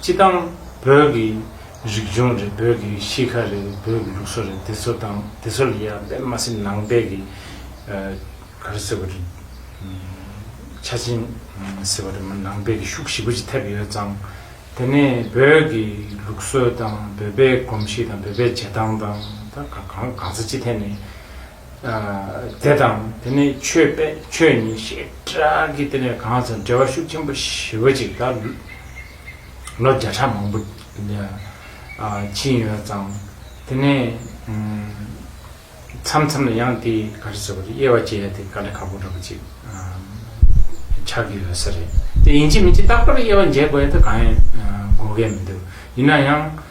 སྤྱི་དང། བོད་ཀྱི་རིག་གཞུང་རེད་བོད་ཀྱི་གཤིས་ཁ་རེད་བོད་ཀྱི་ལུགས་སྲོལ་རེད་དེ་ཚོ་དང་དེ་ཚོ་ལ་ཡང་དཔེ་མ་ཟིན་ནང་པའི་གི་ག་རེ་ཟེར་བ་རེད། ཆ་རྐྱེན་ཟེར་བ་རེད་མ་ནང་པའི་གི་ཤུགས་ཞིབ་པོ་ཅིག་ཐེབས་ཡོད་ཙང། དེ་ནས་བོད་ཀྱི་ལུགས་སྲོལ་དང་བོད་པའི་གོམས་གཤིས་དང་བོད་པའི་བྱེད་སྟངས་དང་ད་གང་གང་ཚ་ཅི་ཐད་ནས་དེ་དང་དེ་ནས་ཆོས་དཔེ་ཆོས་ཉིད་ཞེས་གྲགས་ཀྱི་དེ་ནས་གང་ཚེ་འགྲེལ་བ་ཤུགས་ཆེན་པོ་ཞི་བ་ཅིག་ལ་ལོ་བརྒྱ་ཕྲག་མང་པོ་ཕྱིན་ཡོད་ཙང་དེ་ནས་མཚམས་མཚམས་ལ་ཡང་དེའི་ག་རེ་ཟེར་བ་རེད་དབྱེ་བ་འབྱེད་ཡ་དེ་ག་ལེ་ག་པོ་འདྲ་པོ་ཅིག་ཆགས་ཀྱི་ཡོད་ས་རེད་དེ་ཡིན་གཅིག་མིན་གཅིག་རྟག་པར་དབྱེ་བ་འབྱེད་དགོས་ཡ་ད་གང་ཡང་དགོས་གལ་མི་འདུག་ཡིན་ན་ཡང།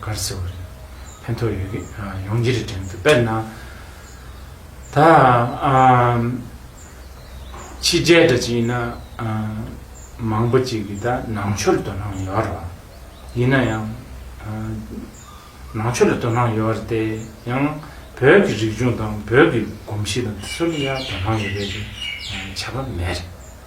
གར་སེ་བ་རེད། ཕན་ཐོགས་ཡོད་གི། ཡོང་རྒྱུ་རེད་དྲན་གི་འདུག་དཔེར་ན། ད། ཕྱི་རྒྱལ་འདྲ་གཅིག་ཡིན་ན། མང་པོ་གཅིག་གིས་ད་ནང་ཆོས་ལ་དོ་སྣང་ཡོད་ར། ཡིན་ན་ཡང། ནང་ཆོས་ལ་དོ་སྣང་ཡོད་ར་སྟེ། ཡང་བོད་ཀྱི་རིག་གཞུང་དང་བོད་ཀྱི་གོམས་གཤིས་དང་དེ་ཚོ་ལ་ཡང་དོ་སྣང་ཡོད་པའི་ཁྱད་པར་མེད་རེད།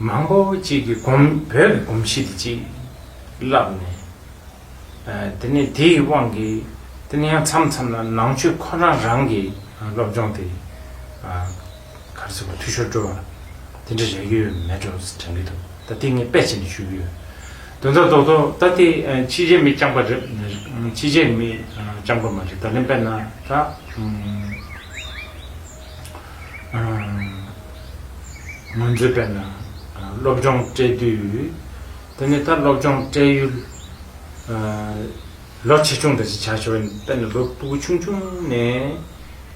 མང་པོ་གཅིག་གིས་བསྒོམ། བོད་ཀྱི་སྒོམ་གཞི་དེ་གཅིག་བསླབས་ནས། དེ་ནས་དེ་ཡི་དབང་གིས་དེ་ནས་ཡང་མཚམས་མཚམས་ལ་ནང་ཆོས་ཁོ་རང་རང་གི་སློབ་སྦྱོང་དེ། གར་སོང་བ་འཐུས་ཤོར་འགྲོ་བ། དེ་འདྲ་རེ་ཡོད་མེད་འགྲོ་དྲན་གྱི་འདུག་ད་ཐེངས་ངས་དཔེ་བྱས་ནས་ཞུས་ཀྱི་ཡོད། དོན་དག་རྡོག་རྡོག་ད་ལྟའི་ཕྱི་རྗེས་མི་རྐྱང་པ་རེད། ཕྱི་རྗེས་མི་རྐྱང་པ་མ་རེད་ད་ལེན་དཔེར་ན་ད། ངོས་འཛིན་པས་ན་སློབ་སྦྱོང་སྤྲད་དུས་དེ་ནས་ད་སློབ་སྦྱོང་སྤྲད་ཡུལ་ལོ་ཆེ་ཆུང་འདྲ་ཞིག་ཆགས་ཆོག་ཡིན་དཔེར་ན་ལོ་སྤུ་གུ་ཆུང་ཆུང་ནས་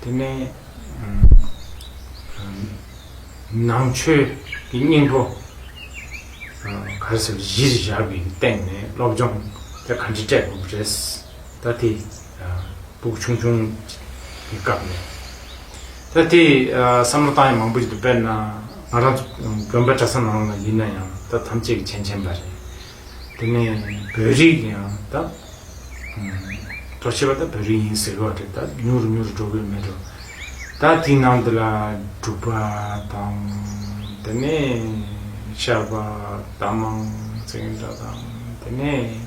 དེ་ནས་ནང་ཆོས་ཀྱི་སྙིང་པོ་ག་རེ་ཟེར་བ་གཞིར་བཞག་གི་སྟེང་ནས་སློབ་སྦྱོང་དེ་ག་འདྲས་སྤྲད་དགོས་པ་རེད། ད་དེ་བུག་ཆུང་ཆུང་གི་སྐབས་ནས་ད་དེ་བསམ་བློ་བཏང་ཡས་མང་པོ་ཞིག་འདུག་དཔེར་ན་ང་རང་དགོན་པ་གྲྭ་ས་ནང་ལ་ཡིན་ན་ཡང་ད་ཐམས་ཅད་ཀྱི་མཆན་མཆན་པ་རེད། དེ་ནས་བོད་རིགས་ཀྱི་ཡང་ད་གཙོ་ཆེ་བ་ད་བོད་རིགས་ཡིན་ཟེར་བ་རེད་ད་ཉུང་རུ་ཉུང་རུ་འགྲོ་གི་མེད་འགྲོ་ད་དེའི་ནང་དུ་ལ་འབྲུག་པ་དང་དེ་ནས་ཤར་པ་རྟ་མང་ཚེ་འདྲ་དང་དེ་ནས།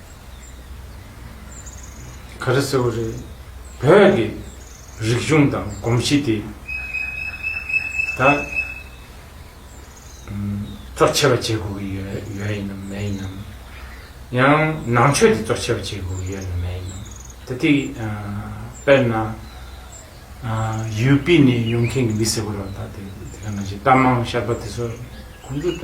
ག་རེ་ཟེར་བ་རེད། བོད་ཀྱི་རིག་གཞུང་དང་གོམས་གཤིས་དེ་ད་གཙོ་ཆེ་བ་བྱེད་དགོས་ཀྱི་ཡོད་ཡོད་ཡིན་ནམ་མེད་ཡིན་ནམ། ཡང་ནང་ཆོས་དེ་གཙོ་ཆེ་བ་བྱེད་དགོས་ཀྱི་ཡོད་ནམ་མེད་ཡིན་ནམ། ད་ཐིག་དཔེར་ན། ཡུལ་སྤི་ནས་ཡོང་མཁན་གྱི་མི་ཟེར་བ་རོ་ད་དེ་དེ་ག་ནང་བཞིན་རྟ་མང་ཤར་པ་དེ་ཚོ་ཁོང་ཚོ་ད།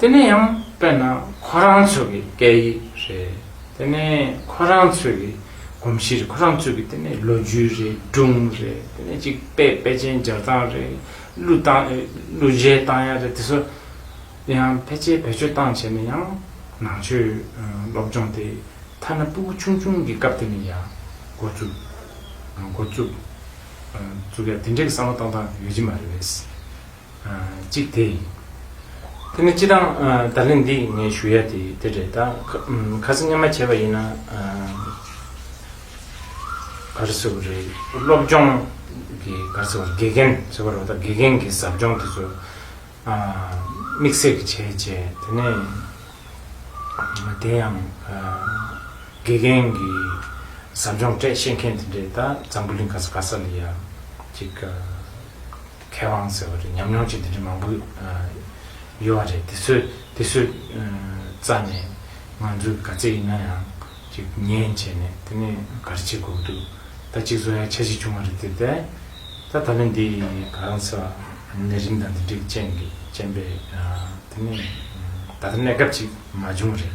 དེ་ནས་ཡང་དཔེར་ན་ཁོ་རང་ཚོ་གི་སྐད་ཡིག་རེད། དེ་ནས་ཁོ་རང་ཚོ་གི་གོམས་གཤིས་རེད། ཁོ་རང་ཚོ་གི་དེ་ནས་ལོ་རྒྱུས་རེད་སྒྲུང་རེད་དེ་ནས་ཅིག་དཔེ་དཔེ་ཅན་སྦྱར་སྟངས་རེད་གླུ་གཏང་གླུ་གཞས་གཏང་ཡ་རེད་དེ་ཚོ་ཡང་ཕལ་ཆེར་བེད་སྤྱོད་གཏང་བྱས་ནས་ཡང་ནང་ཆོས་སློབ་སྦྱོང་དེ་ཐ་ན་སྤུ་གུ་ཆུང་ཆུང་གི་སྐབས་དེ་ནས་ཡང་འགོ་བཙུགས། འགོ་བཙུགས། བཙུགས་ཡ་དེ་འདྲའི་བསམ་བློ་གཏང་སྟངས་ཡོད་ཀྱི་མ་རེད། གཅིག་དེ་ཡིན། དེ་ནི་སྤྱི་དང། བརྡ་ལན་འདི་ངས་ཞུ་ཡ་དེ་དེ་རེད་ད། ཁ་སང་སྙན་མ་བྱས་པ་ཡིན་ན། གར་བཟོ་བ་རེད། སློབ་སྦྱོང་གི་གར་བཟོ་བར་དགེ་རྒན་བཟོ་བར་རོགས་ད་དགེ་རྒན་གྱི་ཟབ་སྦྱོང་དེ་ཚོ། དམིགས་བསལ་གྱི་བྱས་བྱས་དེ་ནས། དེ་ཡང། དགེ་རྒན་གྱི་ཟབ་སྦྱོང་སྤྲད་ཤེས་མཁན་དེ་རེད་ད། འཛམ་བུ་གླིང་ག་ས་ག་ས་ལ་ཡང། གཅིག། མཁས་དབང་ཟེར་བ་རེད་ཉམས་མྱོང་ཅིག་འདི་འདྲའི་མང་པོ་ཡོད་བ་རེད་དེ་ཚོས་དེ་ཚོས་རྩ་ནས་ང་ཚོས་དགའ་ཚད་ཡིན་ན་ཡང་ཅིག་ཉན་བྱས་ནས་དེ་ནས་ག་རེ་བྱེད་དགོས་ཀྱི་འདུག་ད་གཅིག་བཟོ་ཡ་ཆ་ཞིག་བྱུང་བ་རེད་དེ་ལྟ་ད་ད་ལན་འདི་ག་རང་ཟེར་བ་ནད་རིམས་དང་འདི་འདྲའི་ཅན་པས་དེ་ནས་ད་ལྟ་གནས་སྐབས་ཅིག་མ་བྱུང་བ་རེད་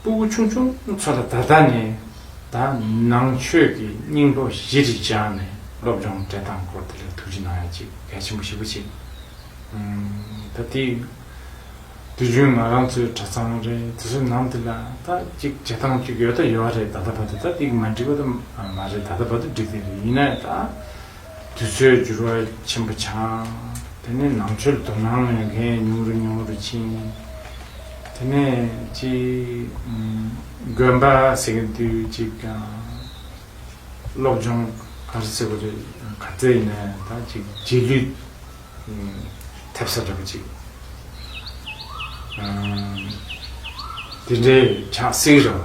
སྤུ་གུ་ཆུང་ཆུང་ཚོ་ལ་ད་ལྟ་ནས་ད་ནང་ཆོས་ཀྱི་སྙིང་པོ་བཞི་རིགས་སྦྱངས་ནས་སློབ་སྦྱོང་སྤྲད་སྟངས་སྐོར་དེ་ལས་ཐུགས་རྗེ་གནང་ཡ་ཅིག་གལ་ཆེན་པོ་ཞིག་པོ་ཅིག་ད་དེ་དུས་རྒྱུན་ང་རང་ཚོའི་གྲྭ་ཚང་རེད་དེ་ཚོའི་ནང་དེ་ལ་ད་ཅིག་བྱེད་སྟངས་ཅིག་ཡོད་ད་ཡོད་རེད་ད་ད་བ་དེ་ད་དེ་མ་འགྲིག་པ་ད་མ་རེད་ད་ད་བ་དེ་འགྲིག་དེ་རེད་ཡིན་ན་ད། དུས་ཚོད་འགྱུར་བ་ཆེན་པོ་འཆང། དེ་ནས་ནང་ཆོས་དོ་སྣང་མེད་མཁན་ཉུང་རུ་ཉུང་རུ་ཕྱིན། དེ་ནས་ཅིག། དགོན་པ་ཟེར་གྱི་དུས་ཅིག། སློབ་སྦྱོང་གར་ཟེར་བ་རེད་ག་ཚད་ཡིན་ན་ད་ཅིག་རྗེས་ལུས། ཐེབས་ས་འདྲ་པོ་ཅིག། དེ་འདྲའི་ཆགས་སྲིད་རེད།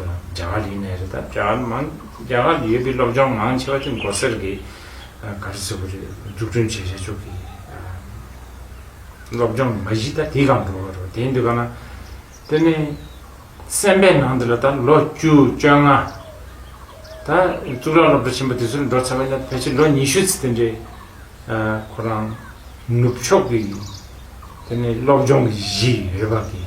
རྒྱ་གར་ཡིན་ནའི་རེད་ད་རྒྱ་གར་མང་རྒྱ་གར་ཡོད་པའི་སློབ་སྦྱོང་མང་ཆེ་བ་ཆུ་མགོ་སེར་གྱི་ག་རེ་ཟེར་བ་རེད་འཛུགས་སྐྲུན་བྱས་བྱས་ཆོག་གི་སློབ་སྦྱོང་མ་གཞི་ད་དེ་གང་འགྲོ་བ་རོ་དེ་འདུག་ག་ན་དེ་ནས་སེམས་པའི་ནང་དུ་ལ་ད་ལོ་བཅུ་བཅོ་ལྔ་ད་གཙུག་ལག་སློབ་གྲྭ་ཆེན་པོ་དེ་ཚོར་འགྲོ་ཚར་བ་ཡིན་ན་ཕལ་ཆེར་ལོ་ཉི་ཤུ་ཚེ་དེ་འདྲའི་ཁོ་རང་ནུབ་ཕྱོགས་ཀྱི་དེ་ནས་སློབ་སྦྱོང་གི་གཞི་ཡོད་པ་གི།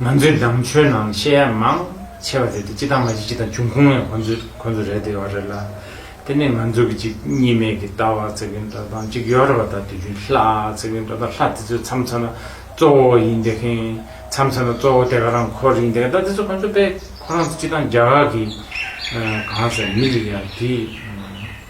ང་ཚོའི་ནང་ཆོས་ནང་བཤད་ཡ་མང་ཆེ་བ་དེ་དེ་སྤྱི་དང་མ་སྤྱི་སྤྱི་དང་བྱུང་ཁུངས་ཡང་ཁོང་ཚོས་ཁོང་ཚོས་རེད་དེ་ཡོད་རེད་ལ། དེ་ནས་ང་ཚོ་གི་གཅིག་གཉིས་མེད་ཀྱི་ལྟ་བ་ཚིག་གི་འགྲོ་སྟངས་གཅིག་ཡོད་རེད་བ་ད་དུས་རྒྱུན་ལྷ་ཚིག་གི་འགྲོ་སྟངས་ལྷ་དེ་ཚོས་མཚམས་མཚོན་ན་གཙོ་བོ་ཡིན་དེ་མཁན་མཚམས་མཚོན་ན་གཙོ་བོ་དེ་ག་རང་འཁོར་ཡིན་དེ་ག་ད་དེ་ཚོ་ཁོང་ཚོ་དཔེ་ཁོ་རང་ཚོ་སྤྱི་དང་རྒྱ་གར་གྱི་གང་ཟེར་མི་རིགས་ཡ་དེ།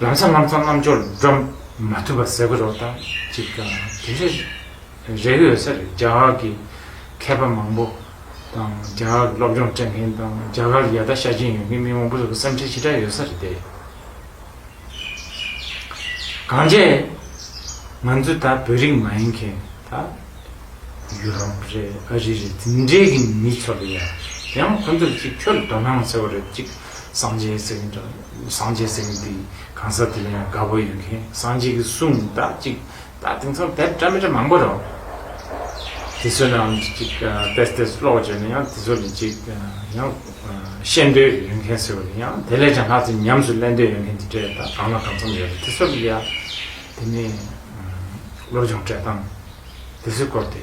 ལམ་སང་ལམ་སང་རྣམ་འབྱོར་འགྲོ་མ་ཐུབ་པ་ཟེར་གི་རོགས་དང་གཅིག་དང་དེ་འདྲ་རེག་ཡོད་ས་རེད་རྒྱ་གར་གྱི་མཁས་པ་མང་པོ་དང་རྒྱ་གར་གྱི་སློབ་སྦྱོང་སྤྲད་མཁན་དང་རྒྱ་གར་ཡ་ད་ཤ་གྱིན་ཡོད་མཁན་མི་མང་པོ་ཚོ་གི་བསམ་འཁྲིལ་ཇི་འདྲ་ཡོད་ས་རེད་དེ། གང་བྱས་ང་ཚོ་ད་བོད་རིགས་མ་ཡིན་མཁན་ད་ཡུ་རོབ་རེད་ཨ་རི་རེད་དེ་འདྲའི་གི་མི་ཚོ་ལ་ཡང་ཁོ་ཚོ་ལ་གཅིག་ཁྱོད་ལ་དོ་སྣང་ཟེར་བ་རེད་གཅིག་སངས་རྒྱས་ཟེར་གི་འདྲ། སངས་རྒྱས་སེམས་དེ་གང་ཟག་དེ་ལ་ཡང་དགའ་བོ་ཡོད་མཁན་སངས་རྒྱས་ཀྱི་གསུང་ནི་དག་ཅིག་དག་དེང་སང་དེབ་བཀྲ་མི་བཀྲ་མང་པོ་རོ། དེ་ཚོ་རྣམས་ཅིག་ཅིག་བལྟས་བལྟས་སུ་ཀློག་བྱས་ན་ཡང་དེ་ཚོ་ལས་ཅིག་ཡང་ཤེས་འདོད་ཡོད་མཁན་ཟེར་བ་དེ་ཡང་དེ་ལས་ཀྱང་ལྷག་ཅིག་ཉམས་སུ་ལེན་འདོད་ཡོད་མཁན་དེ་འདྲས་ད་གང་ལ་གང་འཚམས་ཡོད་རེད་དེ་ཚོ་ལ་ཡང་དེ་ནས་བློ་སྦྱོང་སྤྲད་སྟངས་དེ་ཚོའི་སྐོར་དེ།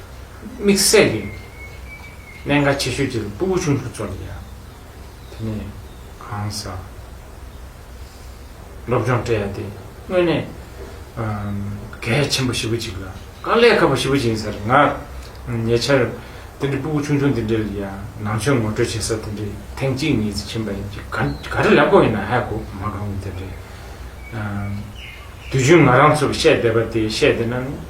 དམིགས་བསལ་གྱི་གནད་འགག་ཆེ་ཤོས་གཅིག་ལ་སྤུ་བོ་ཆུང་ཆུང་ཚོར་ཡང་དེ་ནས་གང་ཟག་སློབ་སྦྱོང་སྤྲད་ཡ་དེ་དངོས་གནས་གལ་ཆེན་པོ་ཞི་བོ་ཅིག་ལ་དཀའ་ལས་ཁག་པོ་ཞི་བོ་ཅིག་ཡིན་ས་རེད་ང་ཉེ་ཆར་དེ་འདྲའི་སྤུ་བོ་ཆུང་ཆུང་དེ་འདྲ་ལ་ཡང་ནང་ཆོས་ངོ་སྤྲོད་བྱེད་ས་དེ་འདྲའི་ཐེངས་གཅིག་གཉིས་ཙི་ཕྱིན་པ་ཡིན་གཅིག་ག་རེ་ལབ་དགོས་ཡིན་ན་ཧད་གོ་མ་གང་གི་དེ་འདྲའི་དུས་རྒྱུན་ང་རང་ཚོར་བཤད་བསྡད་པ་དེ་བཤད་བསྡད་ན་ནི།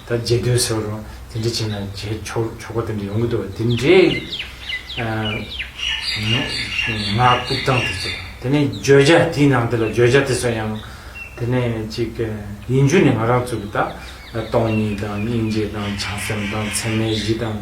ད་རྗེས་ཟློས་ཟེར་བ་རུང་དེ་འདྲ་བྱས་ན་བྱས་ཆོག་ཆོག་པ་དེ་འདྲ་ཡོང་གི་འདུག་དེ་འདྲའི་ངག་རྐུབ་སྟངས་དེ་བྱེད་པ་དེ་ནས་བརྗོད་བྱ་དེའི་ནང་དེ་ལ་བརྗོད་བྱ་དེ་སོགས་ཡང་དེ་ནས་ཅིག་ཡིན་རྒྱུ་ནི་ང་རང་ཚོ་གི་ད་སྟོང་ཉིད་དང་སྙིང་རྗེ་དང་བྱང་སེམས་དང་ཚད་མའི་གཞི་དང།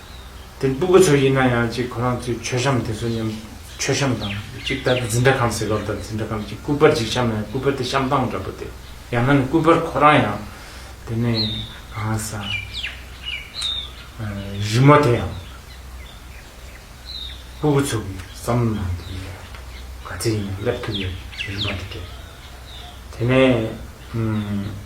དེ་སྤུ་གུ་ཚོ་ཡིན་ན་ཡང་གཅིག་ཁོ་རང་ཚོའི་མཆོད་བྱམས་དེ་ཚོ་མཉམ། མཆོད་བྱམས་དང་གཅིག་ད་ལྟ་འཛིན་གྲྭ་ཁམས་ཟེར་བ་དང་འཛིན་གྲྭ་ཁམས་གཅིག་སྐུ་པར་གཅིག་བྱམས་ན་ཡང་སྐུ་པར་དེ་བྱམས་སྟངས་འདྲ་པོ་དེ་ཡང་ན་ནི་སྐུ་པར་ཁོ་རང་ཡང། དེ་ནས་གང་ཟག་རི་མོ་དེ་ཡང། སྤུ་གུ་ཚོ་གིས་བསམ་བློ་གནང་དེ་ཡིན་ཡང། ག་ཚད་ཡིན་ཡང་སླེབས་ཐུབ་ཡོད་རིན་པ་འདི་དྲན། དེ་ནས།